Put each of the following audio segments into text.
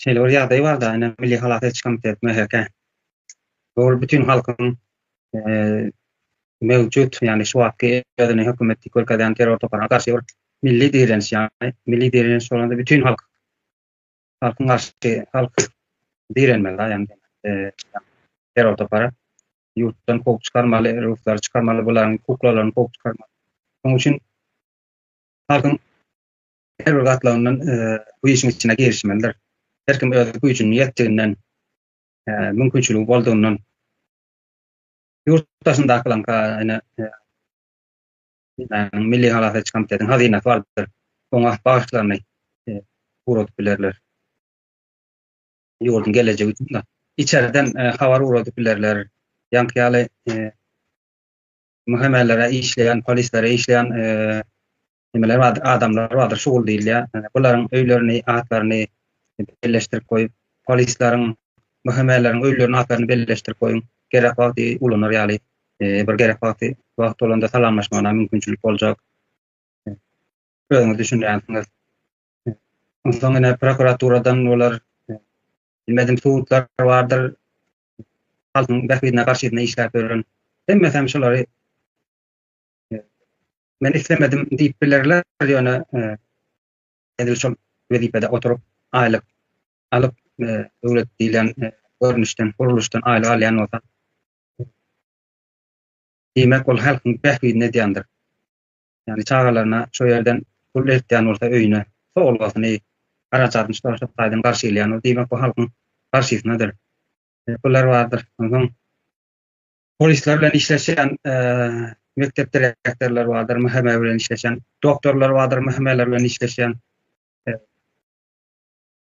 Şeýle bir ýagdaý barda, ine, Milli halas ediş komiteti, MHK, ol bütin halkyň mewjud, ýagny şu wagtky özüni hökümet diýip görkezýän terror toparyna garşy bir milli direniş, ýagny milli direniş bolanda bütin halk, halkyň garşy, halk direnmeli, ýagny terror topary ýurtdan kowup çykarmaly, ruslary çykarmaly, bularyň kuklalaryny kowup çykarmaly. Şonuň üçin halkyň her bir gatlagyndan bu işiň içine girişmelidir. Her kim öz güýjüniň ýetdiginden, mümkinçiligi boldugundan ýurt daşyndaky lanka ýene ýani milli halas ediş komitetiniň hazynasy bardyr. Oňa bagyşlaryny ugradyp bilerler. Ýurduň gelejegi üçin de içerden habar ugradyp bilerler. Ýaňky ýaly muhemmelere işleýän, polislere işleýän nimeler bardyr, adamlar bardyr, şugul diýilýär. Ýani bularyň öýlerini, atlaryny belleşdirip goýup, polisleriň, MHM-leriň öýleriniň atlaryny belleşdirip goýuň. Gerek wagty ulanar ýaly, e, bir gerek wagty wagt bolanda salamlaşmagyna mümkinçilik boljak. E, özüňiz düşünýänsiňiz. E, Onsoň ýene prokuraturadan olar e, bilmedim sudlar bardyr. Halkyň bähbidine garşy işläp ýören. Hemmesi hem şulary Men islemedim diýip bilerler, ýöne edil şol wezipede oturyp, aýlyk alyp, döwlet diýlen görnüşden, gurluşdan aýlyk alýan bolsa, diýmek, ol halkyň bähbidini edýändir. Ýagny çagalaryna şu ýerden pul eltýän bolsa öýüne, sowgatyny, harajatyny şu şu taýdan garşylýan, diýmek, bu halkyň garşysynadyr. Bular bardyr. Onsoň polisler bilen işleşen mekdep direktorlar vardır, müheme bilen işleşen, doktorlar vardır, mühemeler bilen işleşen.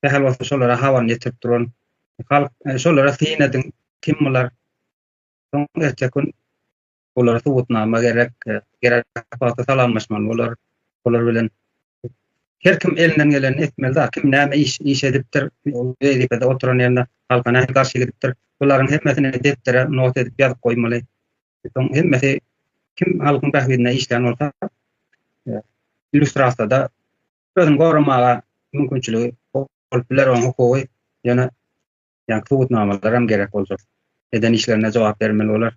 Dehel olsa şolara havan getirip duran. Halk e, şolara seyin edin, kim bular? Son erkek gün bulara subutnama gerek, e, gerek salamlaşman bular, bular bilen Her kim elinden gelenini etmeli da, kim näme iş, iş edipdir, ol wezipede oturan ýerinde halka nähili garşy gidipdir, bularyň hemmesini depdere not edip ýazyp goýmaly. Soň hemmesi kim halkyň bähbidine işlän bolsa, illýustrasiýada özüni goramaga mümkinçiligi bolup biler, onuň hukugy, ýöne ýa subutnamalaram gerek boljak. Eden işlerine jogap bermeli bolar.